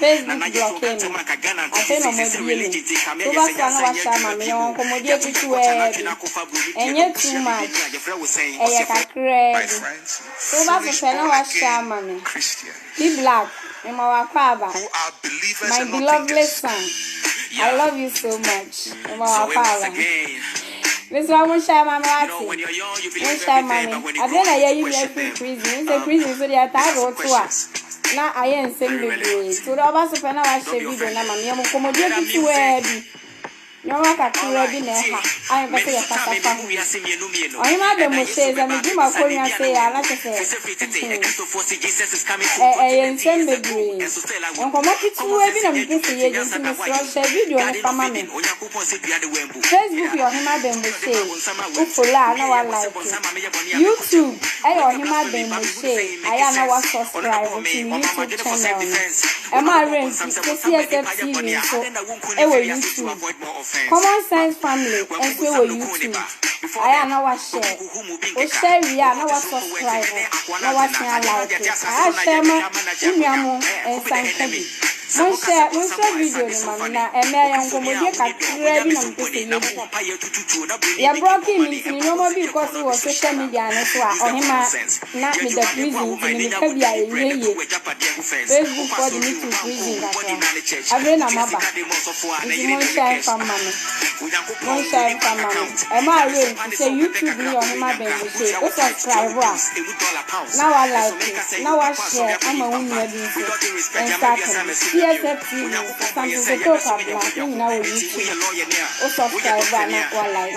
Facebook blɔkee me, afei na ɔmo abie me, woba so a na wahyɛ ama me, yɛwɔ nkɔmɔdie ketewa bi, ɛnyɛ too much, ɛyɛ kakraa bi, woba so pɛ na wahyɛ ama me, P Black mema wo akwaaba, my belovely son, I love you so much, mema wo akwaaba. Mesrɛ wo monhyɛ ama me wate. Monhyɛ ama me. Adeɛ na yɛyi me afiri prison. Wohu sɛ prison nso deɛ ɛtaa de wo to a na ayɛ nsɛm bebree. Nti wode ɔba so pɛ na wahyɛ video no ama me. Yɛ mo nkɔmmɔdie ketewaa bi. Nneɛma kakra bi na ɛha a yɛmpɛ sɛ yɛkasa fa ho. Ɔhema Adamu se sɛ megye m'akonnwa sei a na kyɛ sɛ ɛyɛ nsɛm bebree. Nkɔmmɔ ketewaa bi na mepɛ sɛ yɛdi nti mesrɛ hyɛ video no fa ma me. Facebook yɛ ɔhema bɛn mu sei wo follow a na wa like YouTube ɛyɛ ɔhema bɛn mu sei ayɛ a na wa subscribe to me YouTube channel no ɛma awerɛ nti KCSF TV nso ɛwɔ YouTube Common Sense Family nso ɛwɔ YouTube ayɛ a na wa share Wohyɛ wie a na woasɔskraibo na woasen alaeke. Aahwɛ ma wo nua mo nsa nka bi. Monhyɛ, monsrɛ video no ma me na ɛnnɛ ɛyɛ nkɔmmɔdie kakraa bi na mepɛ sɛ yɛdi. Yɛ brɔkee me ntini nnoɔma bi rekɔ so wɔ social media no so a ɔhemaa na meda prison nti me meka bi a ɛnyɛ yie. Facebook foɔ de me too prison kakra. Afei na maba nti monhyɛ mfa mma me. Monhyɛ nsa mma me. Ɛma a yɛ nti sɛ YouTube ne yɛ ɔhema bɛn mu sei wo subscribe a na wa like na wa share ama wo nua bi nso nsa aka bi TSF TV Asante Kotoko Kwabena ne nyina wɔ YouTube wo subscribe a na wa like.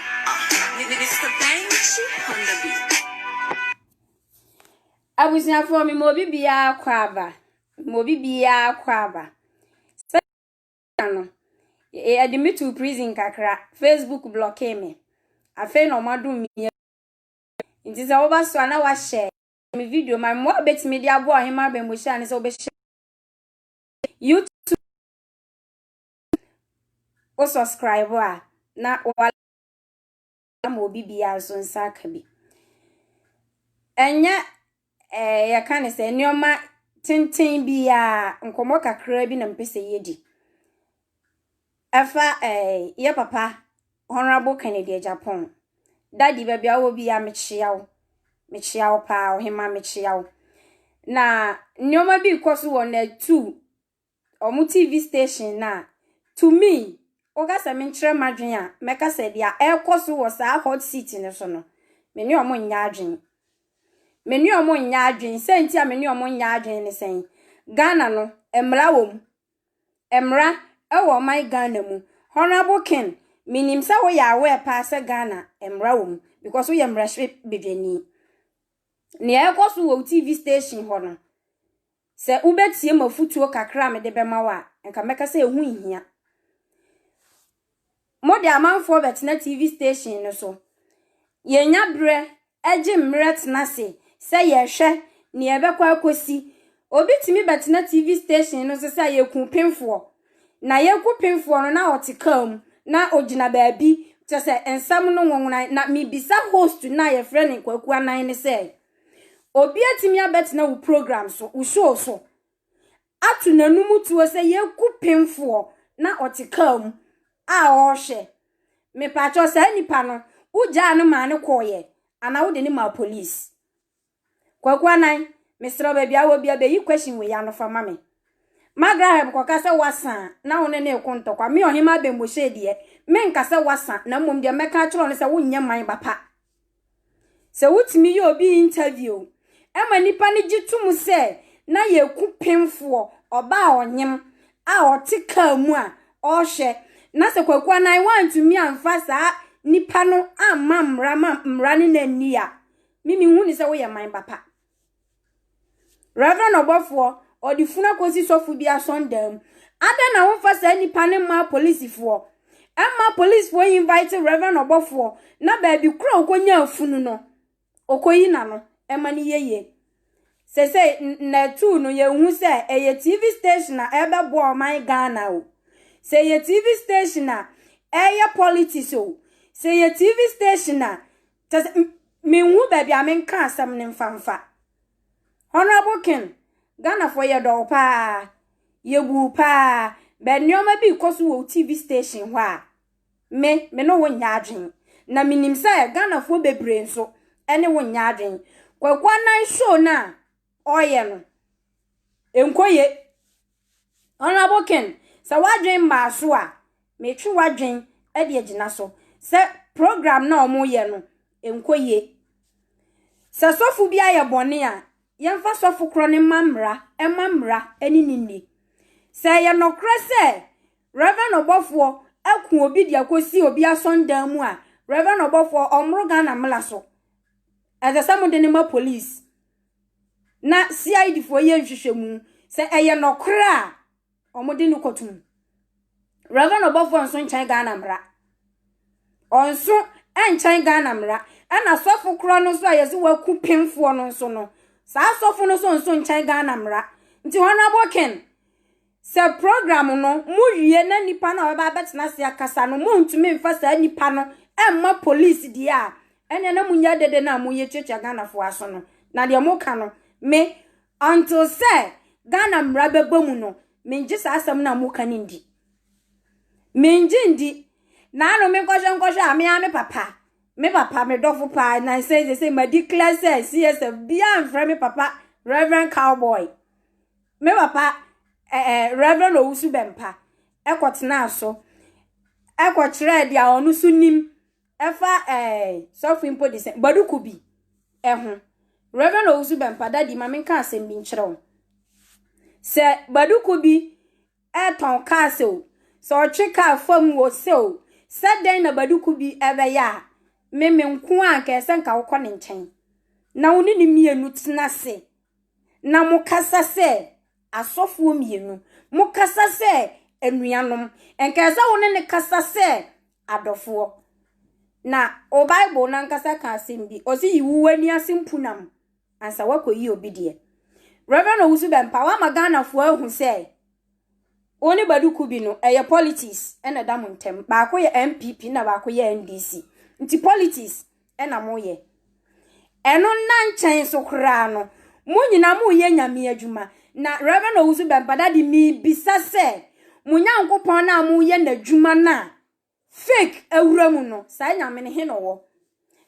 Abusuafoɔ mema obi biara kɔ aba mema obi biara kɔ aba sɛdeɛ no yɛde me too prison kakra facebook blɔkee me afei na wɔn adom me nti sɛ woba so a na wahyɛ me video ma mmoa a bɛtumi de aboa ɔhema abɛmmɔhyia ne sɛ wobɛhyɛ youtube wo subscribe a na wa ama obi biara nso nsa aka bi. Ɛnyɛ eh, yɛka ne sɛ nneɛma tenten biara nkɔmmɔ kakra bi na mpɛ sɛ yɛdi. Ɛfa eh, yɛ papa Honorable Kennedy Agyapong. Dadi baabi a wɔ biara mekyea wo. Mekyea wo paa, ɔhema mekyea wo. Na nneɛma bi rekɔ so wɔ Natu wɔn TV station no a, to me, woka sɛ menkyerɛ m'adwene a, mɛka sɛ deɛ ɛrekɔ so wɔ saa hot seat no so no, me ne wɔn nyɛ adwene. Me ne wɔn nyɛ adwene. Sɛ nti a me ne wɔn nyɛ adwene ne sɛn? Ghana no, mmara wɔ mu. Mmara wɔ ɔman Ghana mu. Honourable Ken, menim sɛ woyɛ aware paa sɛ Ghana, mmara wɔ mu because woyɛ mmarahyɛbadwani. Nea ɛrekɔ so wɔ wo TV station hɔ no, Sɛ wobɛtie m'afotuo kakra a mede bɛma wo a, nka mɛka sɛ ɛho nhia. Mode amanfoɔ bɛtena TV station no so. Yɛnnya berɛ gye mmerɛ tena ase sɛ yɛrehwɛ nea ɛbɛkɔ akɔsi. Obi tumi bɛtena TV station no so sɛ a yɛkuu pemfoɔ, na yɛreku pemfoɔ no na ɔte kaa mu na ɔgyina baabi, kyerɛ sɛ nsɛm no nwowonae. Na mebisa host no a yɛfrɛ no Kwaku Anan no sɛ, Obi atumi abɛtena wo program so, wo show so, ato n'anum tuo sɛ yɛku pemfoɔ na ɔte kaa mu a ɔrehwɛ. Mepaakyɛw saa nipa no, wogyaa no maa no kɔɔyɛ anaa wode no maa police? Kwaku Anan, mesrɛ baabi a wɔ bia bɛyi question wei ano fa ma me. Magraheb kɔka sɛ wasa na wo ne no reko ntɔkwa. Me Ɔhema Abembohyee deɛ, menka sɛ wasa na mmom deɛ mɛka akyerɛ no sɛ wonyɛ man ba pa. Sɛ wotumi yɛ obi interview ma nnipa no gye to mu sɛ na yɛ kupemfoɔ, ɔbaa ɔnyem a ɔte kaa mu a ɔrehwɛ na sɛ Kwaku Anan wantumi amfa saa nipa no amma mmara ma mmara no na nni a, me mehu ne sɛ woyɛ man ba pa. Reverend ɔbɔfoɔ, ɔde funu akɔsi sɔfo bi asɔredan mu. Adɛn na womfa saa nnipa no mmaa polisifoɔ? Ɛmma polisifoɔ invite reverend ɔbɔfoɔ na baabi korɔ a ɔkɔnyaa funu no, ɔkɔyi n'ano ma no yɛ yie. Seesei nna atuu no, yɛhu sɛ ɛyɛ TV station a ɛrebɛbɔ ɔman Ghana o. Sɛ ɛyɛ TV station a, ɛreyɛ politics o. Sɛ ɛyɛ TV station a, Kyɛ sɛ menhu baabi a menka asɛm no mfa mfa. Honourable Ken, Ghanafoɔ yɛdɔ wo paa, yɛbu wo paa, but nneɛma bi rekɔ so wɔ wo TV station hɔ a, me, me ne wo nyɛ adwene. Na menim sɛ Ghanafoɔ bebree nso ne wo nyɛ adwene. Kwaku Annan show no a ɔɔyɛ no nnkɔ yie. Honourable Ken, sɛ w'adwen maa so a, metwe w'adwen de agyina so sɛ programme no a wɔyɛ no nnkɔ yie. Sɛ sɔfo bi ayɛ bɔne a, yɛmfa sɔfo korɔ no mma mmara, ɛmma mmara ne no nni. Sɛ ɛyɛ nɔkorɛ sɛ Rev. Ɔbɔfoɔ aku obi de akɔsi obi asɔndan mu a, Rev. Ɔbɔfoɔ, ɔmmoro Ghana mmara so. Ɛsɛ sɛ mode no ma police. na CID foɔ yɛ nhwehwɛmu. Sɛ ɛyɛ nɔkorɛ a, wɔn de no kɔto mu. Reverend ɔbɔfoɔ nso nkyɛn Ghana mmara. Ɔnso ɛnkyɛn Ghana mmara. Ɛna sɔfo korɔ no nso a yɛse waku penfoɔ no nso no, saa sɔfo no nso nso nkyɛn Ghana mmara. Nti Honourable Ken, Sɛ program no mowie na nnipa no a wɔbɛba abɛtena ase akasa no montumi mfa saa nnipa no mma police deɛ a, ɛnneɛ na monyɛ dede no a moreyɛ tuatua Ghanafoɔ aso no. Na deɛ moka no, me, until sɛ Ghana mmara bɛba mu no, mengye saa asɛm no a moka no ndi. Mengye ndi. Na ano menkɔhwɛ nkɔhwɛ a, me ara me papa, me papa, me dɔfo paa, na nsɛ sɛ sɛ ma declare sɛ CSF, biara mfrɛ me papa Reverend Cowboy. Me papa, eh, eh, Rev. Owusu Bempah, kɔtenaa so kɔkyerɛɛ deɛ ɔno nso nim ɛfa eh, sɔfo mpo de sɛ Baduku bi ho. Rev. Owusu Bempah, dadi ma menka asɛm bi nkyerɛ wo. Sɛ Baduku bi ɛretɔn kaa sɛ o, sɛ ɔtwe kaa fam wo sɛ o, sɛ dɛn na Baduku bi ɛbɛyɛ a, me me nko a nka ɛsɛ nka wokɔ ne nkyɛn na wo ne ne mmienu tena ase na mokasa sɛ asɔfoɔ mmienu. Mokasa sɛ anuanom. Nka ɛsɛ sɛ wo ne no kasa sɛ adɔfoɔ. Na wo Bible no ankasa ka asɛm bi. Ɔse yi wo w'ani ase mpunam ansa woakɔyi obi deɛ. Rev. Owusu-Bempah, woama Ghanafoɔ ahu sɛ Wo ne Badu ko bi no ɛyɛ politics na ɛda mo ntɛm. Baako yɛ NPP na baako yɛ NDC. Nti politics na mo yɛ. Ɛno nna nkyɛn nso koraa no mo nyinaa mo yɛ Nyame adwuma. Na Rev. Owusu Bɛmpada de me bisa sɛ mo Nyankopɔn no a mo yɛ n'adwuma no a fake awura mu no saa Nyame no he na ɔwɔ?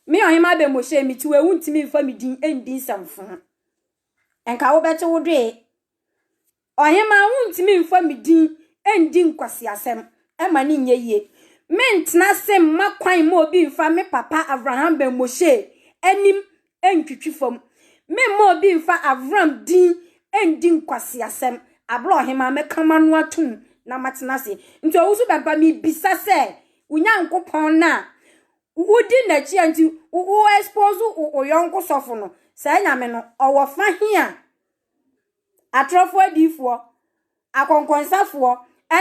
Me Ɔhemaa Bɛmbohyɛ me tiwaa wo ntumi mfa me din ndi nsɛmfoo. Nka wo bɛte wo dwee. Ɔhemaa wontumi mfa me din ndi nkwaseasɛm ɛma no nyɛ yie. Mentena ase mma kwan mma obi mfa me papa Avraham Ben Moshe anim ntwitwi fam. Memma obi mfa Avram din ndi nkwaseasɛm. Abrɛ ɔhemaa, mɛka m'ano atom na matena ase. Nti wo nso bɛmpa mebisa sɛ wo Nyankopɔn no a wodi n'akyi a nti wo expose wo yɔnko sɔfo no, saa Nyame no ɔwɔ fa he a? atorɔfoɔ adiyifoɔ, akɔnkɔnsafoɔ,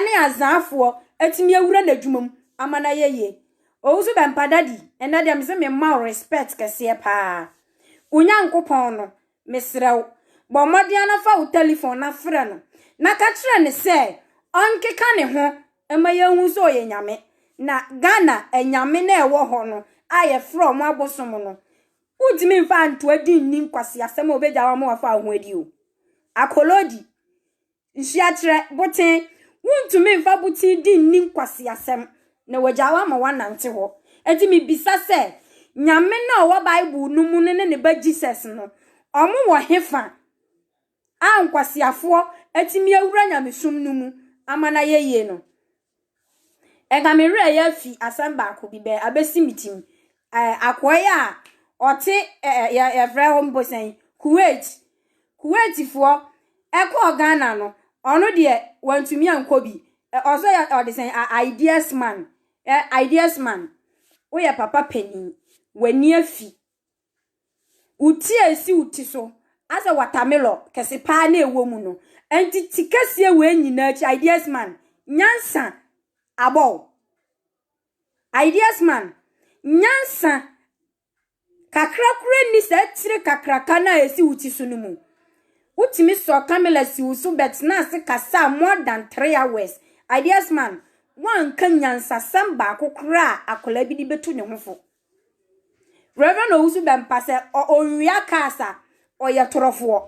ne azaafoɔ atumi awura n'adwuma mu ama no ayɛ yie. Owusu Bɛmpa Daddy, ɛnnɛ deɛ mese mema wo respect kɛseɛ paa. Wo Nyankopɔn no, mesrɛ wo, bɔ mmɔden ara na fa wo telephone na frɛ no na ka kyerɛ no sɛ ɔnkeka ne ho ma yɛnhu sɛ ɔyɛ Nyame. Na Ghana anyame no a ɛwɔ hɔ no a yɛfrɛ wɔn abosom no, Wontumi mfa anto adi nni nkwaseasɛm a wobegyaw ama wɔafa wo ho adi o. Akolodi, nsuakyerɛ, boten, wontumi mfa boten di nni nkwaseasɛm na wɔagyaw ama woanante hɔ. Enti mibisa sɛ, Nyame no a ɔwɔ Bible no mu no ne ne Ba Jesus no, wɔwɔ hefa a nkwaseafoɔ atumi awura nyamesom no mu ama no ayɛ yie no? Ega me werɛ yɛ fi asɛm baako bi bɛ abesi me tim. Ɛɛ akoa yi a ɔte ɛɛ yɛ yɛfrɛ hɔ mpo sɛn Kuwait. Kuwaitfoɔ ɛkɔɔ Ghana no ɔno deɛ wantumi ankɔ bi. Ɛ ɔsɛ yɛ ɔde sɛn a ideas man. Ɛ ideas man woyɛ papa panin w'ani afi Wo ti a esi wo ti so asɛ watermelon kɛse paa na ɛwɔ mu no. Ɛnti ti kɛseɛ wei nyinaa akyi ideas man nyansa abɔ wo. Ideas man nyansa kakra kora nni saa tire kakraka no a ɛsi wo ti so no mu. Wotumi sɔ camera si wo so bɛtena ase kasaa more than three hours. Ideas man woanka nyansasɛm baako koraa a akwadaa bi de bɛtu ne ho fo. Reverend Owusu Bɛmpa sɛ ɔnwia cars a, ɔyɛ torofoɔ.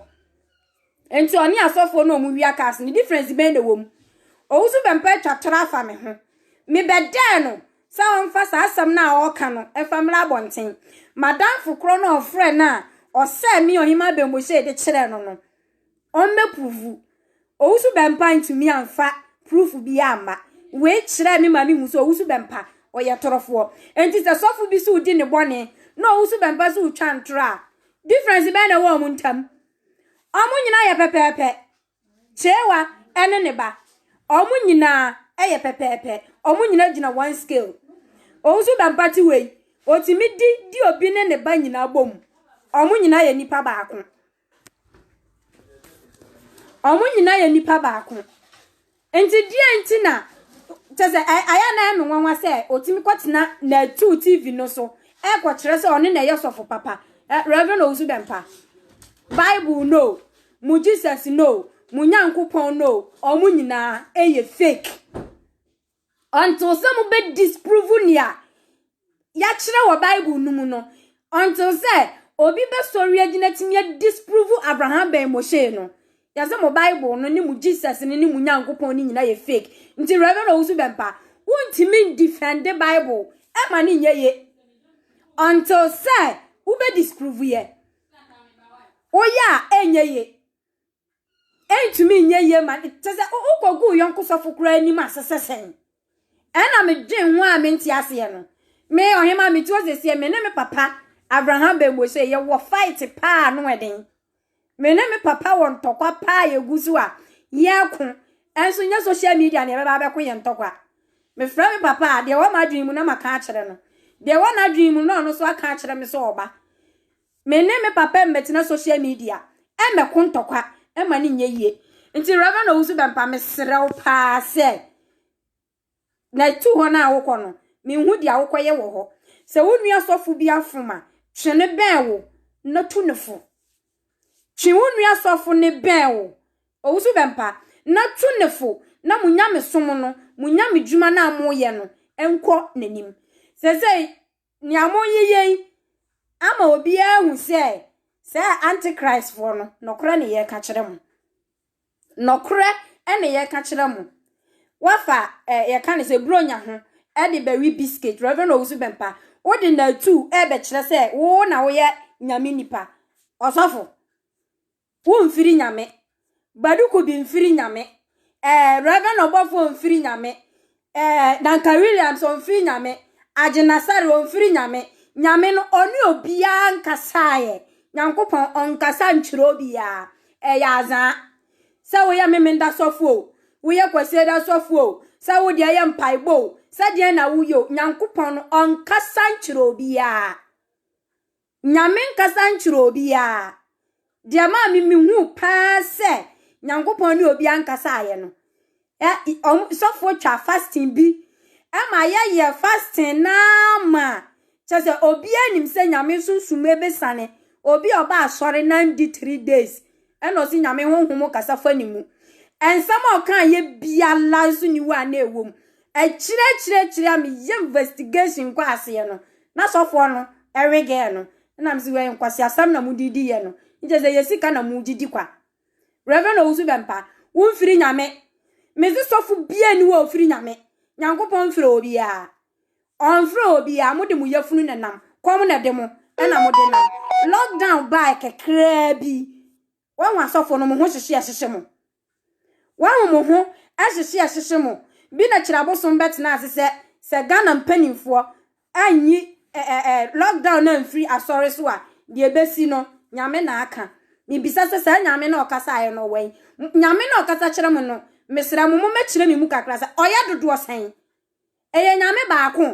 Nti ɔne asɔfoɔ no a wɔwia cars no, difference bɛn na wɔm? Owusu Bɛmpa atwa toro afa me ho. Mebɛdɛɛ no sɛ ɔmfa saa asɛm no a ɔreka no mfa mmra abɔnten. M'adamfo korɔ no a ɔfrɛɛ no a ɔsɛɛ me Ɔhemmaa Bɛnbɔhyei de kyerɛɛ no no, ɔmmɛpuruvu. Owusu Bɛmpa antumi amfa purufu biara amma. Wei kyerɛɛ me ma mehu sɛ Owusu Bɛmpa, ɔyɛ torofoɔ. Enti sɛ sɔfo bi so redi ne bɔne na Owusu Bɛmpa so retwa ntorɔ a, difference bɛn na ɛwɔ wɔn ntam? Wɔn nyinaa yɛ pɛpɛɛpɛ. Kyeewa ne ne ba, wɔn nyinaa yɛ pɛpɛɛpɛ. Wɔn nyinaa gyina one scale. Owusu Bɛmpa te wei, ɔtumi di di obi ne ne ba nyinaa bɔ mu. Wɔn nyinaa yɛ nipa baako. Ɔmo nyinaa yɛ nipa baako. Nti deɛ nti na kyɛ sɛ ayɛ na ɛyɛ me nwanwa sɛ otumi kɔtena Natuu TV no so ɛkɔkyerɛ sɛ ɔne na ɛyɛ sɔfo papa eh, Reverend Owusu Bɛmpa. Bible no, mo Jesus no, mo Nyankopɔn no, ɔmo nyinaa ɛyɛ fake. Until sɛ mo bɛ disprove nea yɛakyerɛ wɔ Bible no mu no. Until sɛ obi bɛsɔre agyina tumi a disprove Abraham bɛn Moshe no. Yɛsɛ mo Bible no ne mo Jesus no ne mo Nyankopɔn no nyinaa yɛ fake. Nti Reverend Owusu Bɛmpa, wontumi ndefɛnde Bible ɛma no nyɛ ye. Until sɛ wobɛ disprove yɛ. Woyɛ a ɛnyɛ ye. Entumi nyɛ yie ma no. Te sɛ wokɔgu wo yɔnko sɔfo koraa anim ase sɛ sɛn. Ɛna medwen ho a mente aseɛ no. Me ɔhema mete hɔ sɛsie me ne me papa Abraham Bɛmbuoso yɛwɔ fight paa ano ɛden. Me ne me papa wɔ ntɔkwa paa yɛgu so a yɛko ɛnso nyɛ social media na yɛbɛba abɛko yɛn ntɔkwa. Mefrɛ me papa a deɛ ɛwɔ m'adwene mu na maka akyerɛ no. Deɛ ɛwɔ n'adwene mu no na ɔno nso aka akyerɛ me sɛ ɔba. Me ne me papa mmɛtena social media mmɛko ntɔkwa ɛma no nyɛ yie. Nti Rev. Owusu Bɛmpa mesrɛ wo paa sɛ na tu hɔ no a wokɔ no menhu deɛ wokɔyɛ wɔ hɔ. Sɛ wo nua sɔfo bi afom a, twe no bɛn wo na tu no fo. Twe wo nua sɔfo no bɛn wo, Owusu Bɛmpa, na tu no fo na mo nyamesom no, mo nyamedwuma no a moyɛ no nkɔ n'anim. Seesei Nea moreyeyɛ yi ama obiara ahu sɛ saa antichristfoɔ no, nokorɛ na yɛreka kyerɛ mo. Nokorɛ na yɛreka kyerɛ mo. Wafa ɛ eh, yɛka ne sɛ buronya ho de bɛwe biscuit. Reverend Owusu Bɛmpa, wode natu ɛrebɛkyerɛ sɛ wo na woyɛ nyame nipa. Ɔsɔfo. Wo nfiri Nyame. Badu Kubi nfiri Nyame. Eh, Rev. Ɔbɔfoɔ ɔnfiri Nyame. Eh, Duncan Williams ɔnfiri Nyame. Agyen Asare ɔnfiri Nyame. Nyame no, ɔne obiara nkasaeɛ. Nyankopɔn, ɔnkasa nkyerɛ obiara. Ɛyɛ azaa. Sɛ woyɛ Memenda sɔfoɔ o, woyɛ Kwasiada sɔfoɔ o, sɛ wode ɛyɛ mpaebɔ o, sɛdeɛn na woyɛ o, Nyankopɔn no, ɔnkasa nkyerɛ obiara. Nyame nkasa nkyerɛ obiaa. Deɛ maa me mehuu paa sɛ Nyankopɔn ne obiaa nkasaeɛ no, ɛ, ɔm, sɔfoɔ twa fasting bi ma yɛyɛ fasting no ara ma, kyɛ sɛ obiaa nim sɛ Nyame Sunsum bɛsane obi a ɔba asɔre na andi three days Ɛna ɔse Nyame honhom kasa fa ne mu. Nsɛm a ɔkaa yɛ biara nso ni hɔ a na ɛwɔ mu. Akyire akyire akyire a me yɛ investigation kɔ aseɛ no, na sɔfoɔ no ɛwe girl no. Ɛna me se wɛi nkwaseasɛm na mo de di yɛ no. Nkyɛ sɛ ɛyɛ sika na mo gye di kwa. Reverend Owusu Bɛmpa, wo mfiri Nyame. Me se sɔfo biara ni hɔ a ɔfiri Nyame. Nyankopɔn mfrɛ obiara. Ɔmfrɛ obiara, mo de mo yafunu na nam, kɔm na de mo, ɛna mo de nam. Lockdown baa kakraa bi, wɔn asɔfo no mo ho hyehye ɛhyehye mo. Wɔn mo ho ɛhyehye ɛhyehye mo. Bi na kyerɛ abosom bɛtena ase sɛ sɛ Ghana mpanimfoɔ anyi ɛɛ lockdown na mfiri asɔre so a, deɛ ɛbɛsi no, nyame na aka. Mebisa sɛ saa nyame na ɔkasaeɛ no ɔwɛn? Nyame na ɔkasa kyerɛ mo no, mesrɛ mo, mo mɛkyerɛ me mu kakra sɛ ɔyɛ dodoɔ sɛn? Ɛyɛ Nyame baako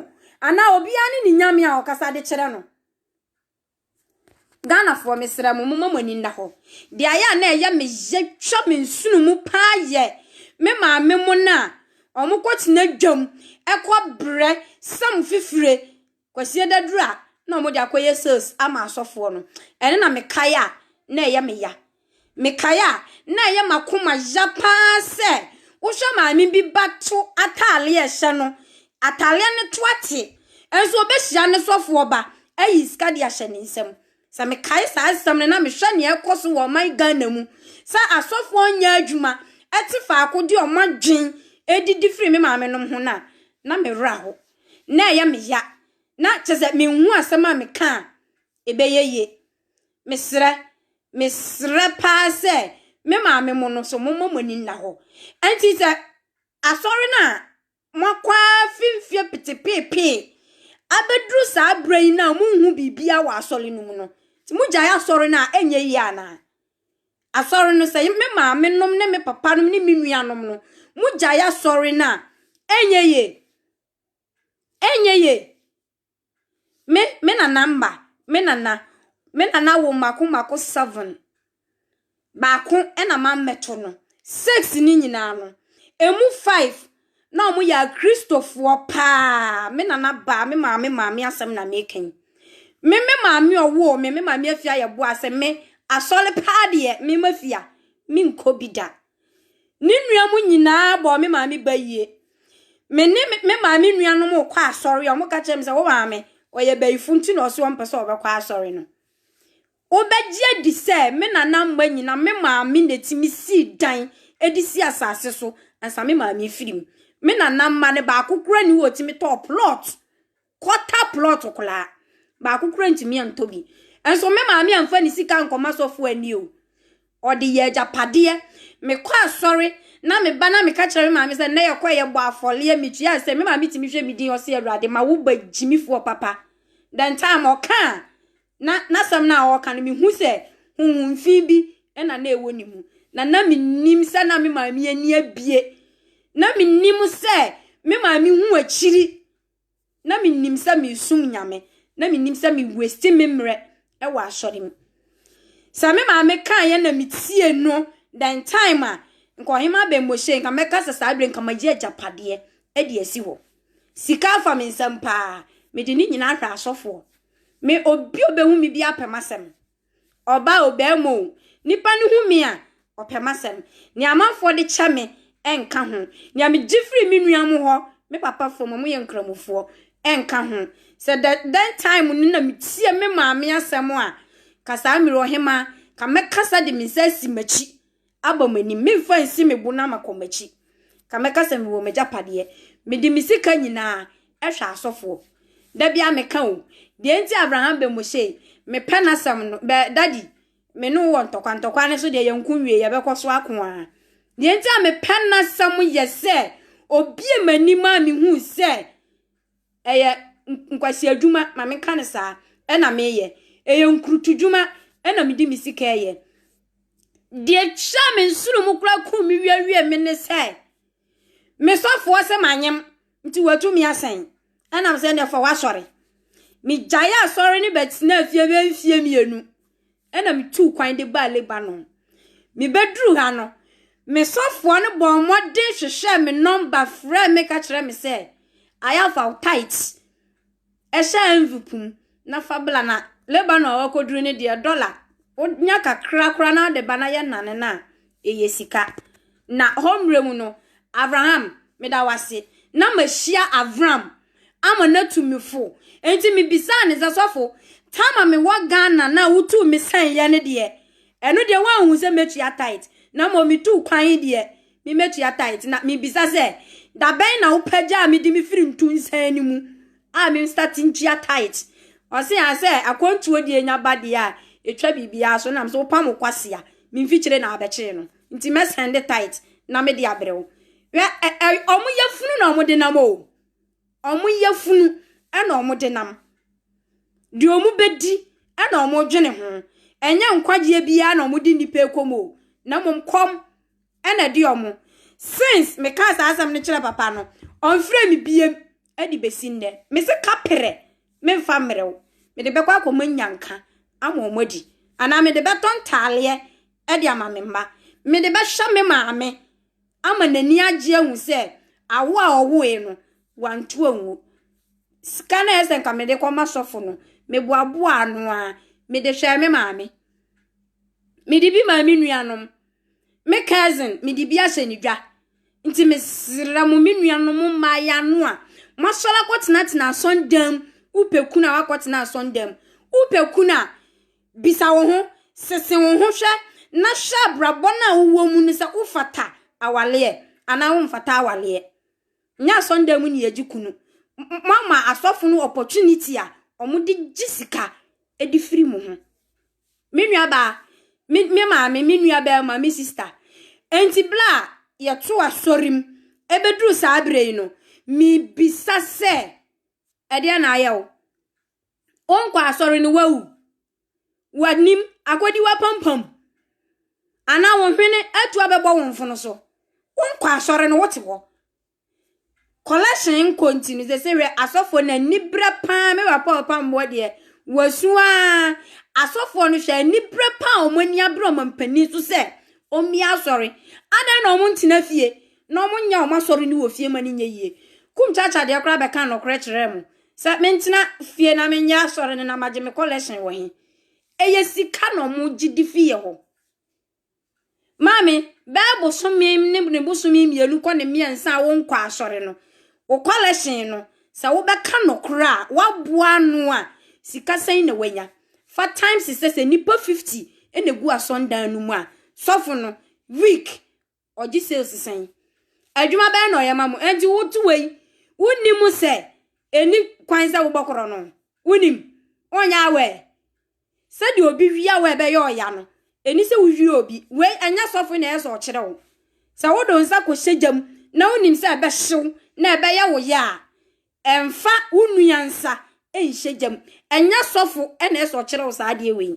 anaa obiara ne ne Nyame a ɔkasa de kyerɛ no? Ghanafoɔ mesrɛ mo, momma mo ani nna hɔ. Deɛ ayɛ a na ɛyɛ me yɛ twa me nsono mu paa yɛ me maame mo no a wɔkɔtena dwam kɔbrɛ sam fifire Kwasia daduru a na wɔde akɔyɛ sales ama asɔfoɔ no, ɛno na mekae a na ɛyɛ me ya. Mekae a na ɛyɛ m'akoma ya pa ara sɛ wohwɛ maame bi ba to atadeɛ a ɛhyɛ no, atadeɛ no to ate, nso ɔbɛhyia ne sɔfoɔ ba ayi sika de ahyɛ ne nsam. Sɛ mekae saa asɛm no na mehwɛ nea ɛrekɔ so wɔ ɔman Ghana mu, sɛ asɔfoɔ nyɛ adwuma te faako de wɔn adwene didi firi me maamenom ho no a, na me werɛ ahow. na ɛyɛ me ya, na kyerɛ sɛ menhu asɛm a meka a ɛbɛyɛ yie. Mesrɛ, mesrɛ paa sɛ me maame mo no so momma mo ani nna hɔ. Ɛnti sɛ asɔre no a moakɔ afi mfeɛ petepeepee abɛduru saa berɛ yi no a monhu biribiara wɔ asɔre no mu no, nti mogyae asɔre no a ɛnyɛ yie anaa? Asɔre no, sɛ me maame nom ne me papa nom ne me nua nom no, mo gya yɛ asɔre no a, ɛnyɛ ye. Ɛnyɛ ye. Me, me nana mma, me nana, me nana wo mako mako seven. Baako ɛna ma mɛto no. Six ni nyinaa no, emu five. na wɔn yɛ akristofoɔ paa, me nana baa, me maame maame asɛm na meka yi. Me me maame ɔwoo me, me maame afia yɛ boa sɛ me asɔre paa deɛ me ma fia, me nkɔ bi da. Ne nua mu nyinaa bɔ me maame ba yie. Me ne me maame nuanom kɔ asɔre a wɔka kyerɛ me sɛ wo maame ɔyɛ bayifo nti na ɔsɛ ɔmpɛ sɛ ɔbɛkɔ asɔre no. Wobɛgye adi sɛ me nana mma nyina me maame na ɛtumi sii dan de sii asase so ansa me maame firi mu. Me nana mma no baako koraa nni hɔ a ɔtumi tɔɔ plot, quarter plot koraa. Baako koraa ntumi antɔ bi. Nso me maame amfa ne sika ankɔ m'asɔfo ani o. Ɔde yɛ agyapadeɛ. Mekɔ asɔre na me ba na meka kyerɛ me maame sɛ nnɛ yɛkɔ yɛbɔ afɔreɛ metua asɛ me maame tumi hwɛ me din ɔse Awurade ma wo ba gyimifoɔ papa. The time ɔka a Na n'asɛm no a ɔreka no, mihu sɛ honhom fi bi na na ɛwɔ ne mu, na na minnim sɛ na me maame ani abue. Na minnim sɛ me maame hu akyiri. Na minnim sɛ meresom Nyame. Na minnim sɛ me wasti me mmerɛ wɔ asɔre mu. Sɛ me maame kaeɛ na metie no, then time a nka ɔhema Ben Moshe, nka mɛka sɛ saa berɛ nka magye agyapadeɛ de asi hɔ. Sika afa me nsam paa, mede ne nyinaa hwɛ asɔfoɔ. Me obi a obehu me biara pɛ m'asɛm. Ɔbaa o, barima o, nnipa no hu me a, wɔpɛ m'asɛm. Nea amanfoɔ de kyɛ me nka ho. Nea megye firi me nua mo hɔ, me papa fam a wɔyɛ Nkramofoɔ, nka ho. Sɛ dɛ dɛn time no na metie me maame asɛm a, ka saa Miri Ɔhemaa, ka mɛkasa de me nsa asi m'akyi Abɔ m'anim, memfa nsi me bo na makɔ m'akyi. Ka mɛka sɛ mewɔ m'agyapadeɛ. Mede me sika nyinaa hwɛ asɔfoɔ. Da bi a meka o, deɛ nti a Abraham bɛ mo sei, mepɛ n'asɛm no, bɛ, Daddy, me ne wo wɔ ntɔkwa, ntɔkwa no nso deɛ yɛnko nwie, yɛbɛkɔ so ako ara. Deɛ nti a mepɛ n'asɛm yɛ sɛ, ɔbie m'anim a mehuu sɛ, Ɛyɛ nkwaseadwuma, ma menka no saa, ɛna meyɛ. Ɛyɛ nkurutudwuma, ɛna mede me sika ɛyɛ. Deɛ hyɛɛ me nsoro mu koraa kum me wiawie me ne sɛ, me sɔfoɔ sɛ manyem, nti watumi asɛn. Ɛnam sɛ ɛnɛ fa wasɔre. Megyae asɔre ne bɛtenaa fie bɛyɛ mfeɛ mmienu. Ɛnna mituu kwan de baa Lebanon. Mibeduu ha no, me sɔfoɔ no bɔɔ mmɔden hwehwɛɛ me nɔmba frɛɛ me ka kyerɛɛ me sɛ, Ayah fa wo tithes hyɛ envelope mu na fa bla na Lebanon a wakɔduru no deɛ dɔla wonya kakra koraa na wode ba na yɛnane no a, ɛyɛ sika. Na hɔ mmerɛ mu no, Avraham, meda wo ase, na mahyia Avram ama no atu me fo. Enti mebisaa no sɛ, Sɔfo, tam a mewɔ Ghana no a wotuu me sɛeɛ no deɛ, ɛno deɛ woanhu sɛ mɛtua tithe? Na mmom metuu kwan yi deɛ, memmɛtua tithe. Na mebisa sɛ, da bɛn na wopagyaa me de me firi ntunsan no mu a menstate ntua tithe? Ɔse aa sɛ, akwantuo deɛ nya ba deɛ a, ɛtwa biribiara so. Nam sɛ wopam wo kwase a, me mfikyire na abɛkyee no. Nti mɛsɛnde tithe na mede abrɛ wo. Hwɛ, ɛ, ɛ, wɔn yafunu na wɔde nam o. wɔn yafunu na wɔde nam. Deɛ wɔbɛdi na wɔdwene ho. Ɛnyɛ nkwagyeɛ biara na wɔde nnipa rekɔ mu o, na mmom kɔm na ɛde wɔn. Since mekaa saa asɛm no kyerɛ papa no, ɔmfrɛɛ me biem de bɛsi nnɛ. Mese kaperɛ, memfa mmerɛ wo. Mede bɛkɔ akɔma nnyanka ama wɔn adi. Anaa mede bɛtɔ ntaaleɛ de ama me mma. Mede bɛhyɛ me maame ama n'ani agye ahu sɛ awo a ɔwoe no, wantu angu. Sika no a ɛyɛ sɛ nka mede kɔma sɔfo no, meboaboaa ano ara. Mede hwɛɛ me maame. Mede bi maa me nuanom. Me cousin, mede bi ahyɛ ne dwa. Nti mesrɛ mo, me nuanom mmaa yɛ ano a, moasɔre akɔtenatena asɔndam. Wopɛ kunu a, woakɔtena asɔndam. Wopɛ kunu a, Bisa wo ho, sese wo ho hwɛ na hwɛ abrabɔ no a wowɔ mu no sɛ wofata awaleɛ anaa womfata awaleɛ. Nyɛ asɔndan mu niyɛgye kunu. Moama asɔfo no opportunity a wɔde gye sika de firi mo ho. Me nuabaa, me, me maame, me nuabarima, me sista. Enti bere a yɛto asɔre mu ɛbɛduru saa berɛ yi no, mebisa sɛ, ɛdeɛn na ayɛ wo? Wonkɔ asɔre no, woawu. W'anim akɔdi w'apampam. Anaa wo hwene atu abɛbɔ wo mfono so. Wonkɔ asɔre no, wote hɔ. Collection nkɔ nti no, sɛ sɛ hwɛ asɔfoɔ no anibrɛ paa, me papa ɔpamboɔ deɛ, wasu aa. Asɔfoɔ no hwɛ anibrɛ paa wɔn ani abere wɔn mpanin so sɛ wɔn bi asɔre. Adan na wɔn ntena fie, na wɔn nyɛ wɔn asɔre no wɔ fie ma no nyɛ yie. Kum kyakya deɛ koraa bɛka nokorɛ kyerɛɛ mo. Sɛ me ntena fie na me nyɛ asɔre no na magye me collection wɔ he? Ɛyɛ sika na ɔmo gye di fi yɛ hɔ. Maame, bɛɛ bosome ne ne bosome mmienu kɔ ne mmiɛnsa a wonkɔ asɔre no, wo collection no, sɛ wobɛka nɔkorɛ a, woaboa ano a, sika sɛn na wanya? Fa times sɛ sɛ nnipa 50 na egu asɔndan no mu a, sɔfo no, week, Ɔgye sales sɛn? Adwuma bɛn na ɔyɛ ma mo? Enti woto wei, wonni mu sɛ ɛni kwan sɛ wobɔ korɔ no? Wonim? Wonyɛ aware? Sɛdeɛ obi wie aware bɛyɛ ɔya no, ɛni sɛ wowie obi. Wei, ɛnyɛ sɔfo na ɛyɛ sɛ ɔkyerɛ wo. Sɛ wode wo nsa kɔhyɛ gya mu na wonim sɛ ɛbɛhyew na ɛbɛyɛ wo ya a, ɛmfa wo nua nsa nhyɛ gya mu. Ɛnyɛ sɔfo na ɛyɛ sɛ ɔkyerɛ wo saa adeɛ wei.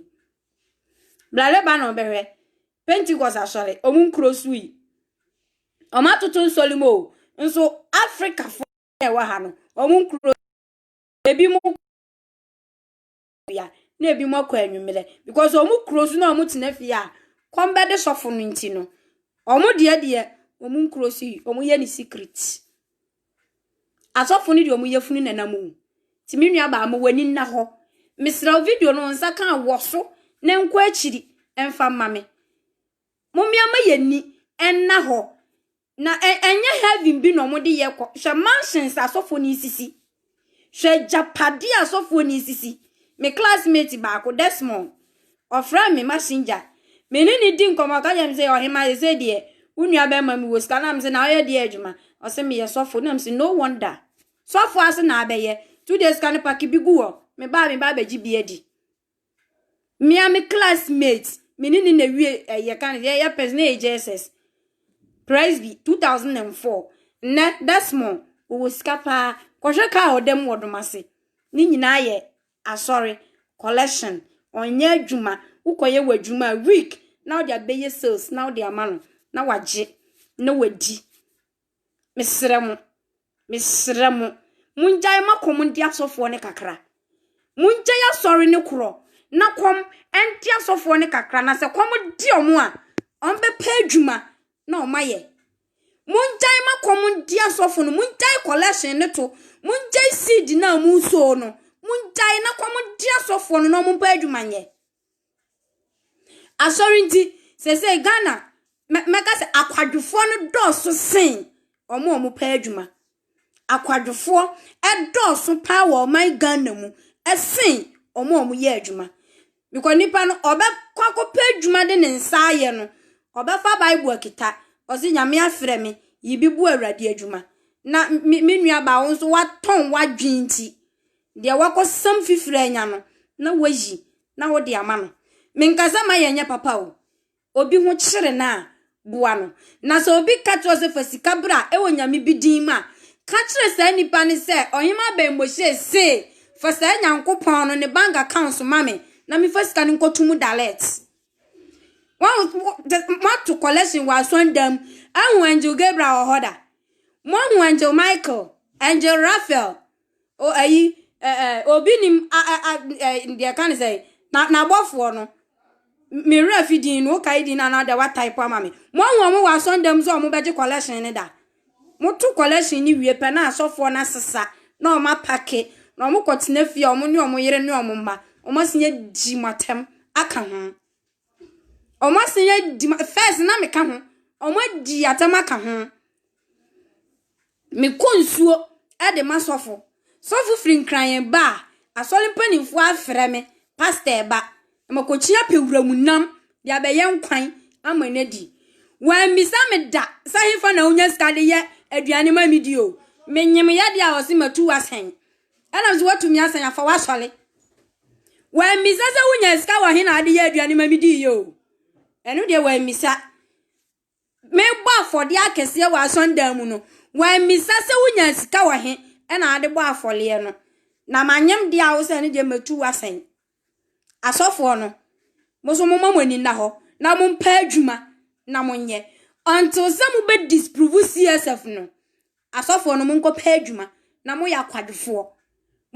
Bra Lebanon bɛhwɛ. Pentecost asɔre, wɔn nkuro so yi, wɔn atoto nsɔre mu o, nso Afrikafo na ɛwɔ ha no, wɔn nkuro, ebi mo bia, na ebi mo akɔ anwummerɛ, because wɔn kuro so na wɔn tena fie a, kɔm bɛde sɔfo no nti no, wɔn deɛ deɛ, wɔn nkuro so yi, wɔn yɛ ne secret. Asɔfo no de wɔn yafunu na nam o. Ti me nua baa ma w'ani nna hɔ. Mesrɛ wo video no nsa ka a wɔ so na nkɔ akyiri mfa mma me. Mommea ma yɛn ni nna hɔ. Na ɛnyɛ heaven bi na wɔn de yɛ kɔ. Hwɛ mansions asɔfo no sisi. Hwɛ agyapade a sɔfoɔ no resisi. Me classmate baako, Desmond, ɔfrɛɛ me Messenger. Me ne no di nkɔmmɔ, ɔka kyerɛ me sɛ, Ɔhema, seesei deɛ, wo nuabarima mewɔ sika. Na mese, Na woyɛ deɛ adwuma? Ɔse, Meyɛ sɔfo. Na mese, No wonder. Sɔfo ase na abɛyɛ. Two days ka no pake bi gu hɔ. Mebaa a, meba abɛgye bi adi. Me ara me classmate, me ne no na wie eh, yɛka no, yɛyɛ pɛs na yɛ JSS. Presby, 2004. Nnɛ, Desmond, ɔwɔ sika paa. Kɔhwɛ kaa a ɔda mu wɔ Domase. Ne nyinaa yɛ asɔre, collection. Ɔnyɛ adwuma. Wokɔyɛ w'adwuma a, week, na wode abɛyɛ sales na wode ama no, na wagye, na wadi. Mesrɛ mo, mesrɛ mo, mongyae ma kɔm ndi asɔfoɔ no kakra. Mongyae asɔre no korɔ na kɔm ndi asɔfoɔ no kakra. Na sɛ kɔm de wɔn a, wɔbɛpɛ adwuma na wɔayɛ. Mongyae ma kɔm ndi asɔfo no. Mongyae collection no to. Mongyae seed no a moresoo no. Mongyae na kɔm ndi asɔfoɔ no na wɔmpɛ adwuma nyɛ. Asɔr ntsi, sesei Ghana, mɛ mɛka dɛ akwadwofoɔ no dɔɔ so sen wɔn a wɔpɛ adwuma. Akwadwofoɔ dɔɔ so pa ara wɔ ɔman Ghana mu sen wɔn a wɔyɛ adwuma. Bikɔ nipa no ɔbɛkɔ akɔpɛ adwuma de ne nsa ayɛ no, ɔbɛfa Bible akita, ɔse Nyame afrɛ me, yiribebu Awurade adwuma. Na me me nua baa, wo nso woatɔn w'adwene nti, deɛ woakɔsam fifiri anya no, na woayi. na wode ama no. Menka sɛ ma yɛnyɛ papa o. Obi ho kyere no a, boa no. Na sɛ obi ka kyerɛ wo sɛ fa sika bra wɔ nyame bi din mu a, ka kyerɛ saa nipa no sɛ, Ɔhemmaa Ben Moshe se, Fa saa Nyankopɔn no ne bank accounts ma me na mefa sika no nkɔto mu direct. Wahu, moato collection wɔ asɔndan mu. Ahu Angel Gabriel wɔ hɔ da. Moahu Angel Michael, Angel Raphael, o ayi ɛ ɛ obi nim a ɛ a ɛ deɛ ɛka ne sɛn na n'abɔfoɔ no me werɛ afi din no wokae din no anaa deɛ wataepo ama me moahu wɔn wɔ asɔndam sɛ wɔn bɛgye collection no da moto collection no wie pɛ na asɔfoɔ no asesa na wɔn apake na wɔn kɔtena fie a wɔn ne wɔn yere ne wɔn mma wɔn asen yɛ di mo atɛm aka ho wɔn asen yɛ di first na meka ho wɔn adi atɛm aka ho. Mekɔ nsuo de ma sɔfo. Sɔfo firi Nkran ba a, asɔre mpanimfoɔ afrɛ me, Pasta ɛba, makɔkyia pɛ wuram nam de abɛyɛ nkwan ama no adi. Wɔammisa me da sɛ hefa na wonya sika de yɛ aduane ma medi o. Menyem yadeɛ a wɔse matu asɛn. Ɛna nso woatumi asɛn afa w'asɔre. Wɔammisa sɛ wonya sika wɔ he na wode yɛ aduane ma medi yi o. Ɛno deɛ wɔammisa. Mebɔ afɔdeɛ akɛseɛ wɔ asɔndan mu no, wammisa sɛ wonya sika wɔ he na ade bɔ afɔreɛ no. Na manyem deɛ a wo sɛ ne deɛ matu wo asɛn. Asɔfoɔ no, mo so moma mo ani nna hɔ na mompɛ adwuma na monyɛ until sɛ mobɛ disprove CSF no. Asɔfoɔ no monkɔ pɛ adwuma na moyɛ akwadwofoɔ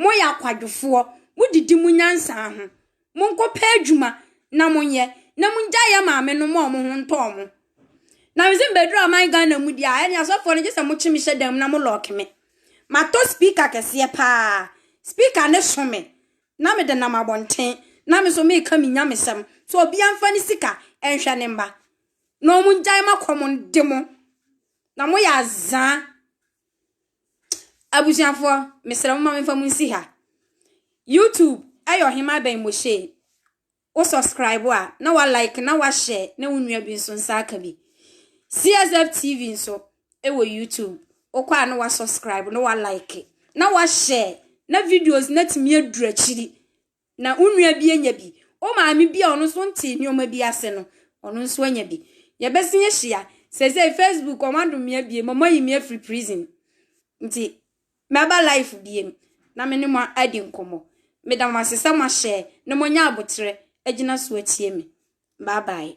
moyɛ akwadwofoɔ modidi mo nyansa ho monkɔ pɛ adwuma na monyɛ na mongyae yɛ maame no ma ɔmo ho ntɔ ɔmo na mese mbɛduru aman Ghana mu deɛ a ɛne asɔfoɔ no gye sɛ mokye me hyɛ dan mu na mo lɔɔke me matɔ speaker kɛseɛ paa speaker ne so me na mede nam abɔnten na me so meka me nyamesɛm so obia mfa ne sika nhwɛ ne mma na ɔmo ngyae makɔ mo de mo Na mo yɛ azaa. Abusuafoɔ, mesrɛ mo ma memfa mo nsi ha. YouTube ɛyɛ ɔhema bɛn Moshe. Wo subscribe a, na wa like, na wa share, na wo nua bi nso nsa aka bi. CSF TV nso ɛwɔ YouTube. Wokɔ a na wa subscribe, na wa like, na wa share, na videos na tumi aduru akyiri. na wo nua bi anya bi, wo maame bi a ɔno nso ntee nneɛma bi ase no, ɔno nso anya bi. Yɛbɛsan ahyia. Seesei Facebook, wɔadom me abiem, wɔayi me afiri prison. Nti, mɛba live biem na me ne mo adi nkɔmmɔ. Meda mo ase sɛ moahyɛ na moanya aboterɛ agyina so atie me. Bye bye.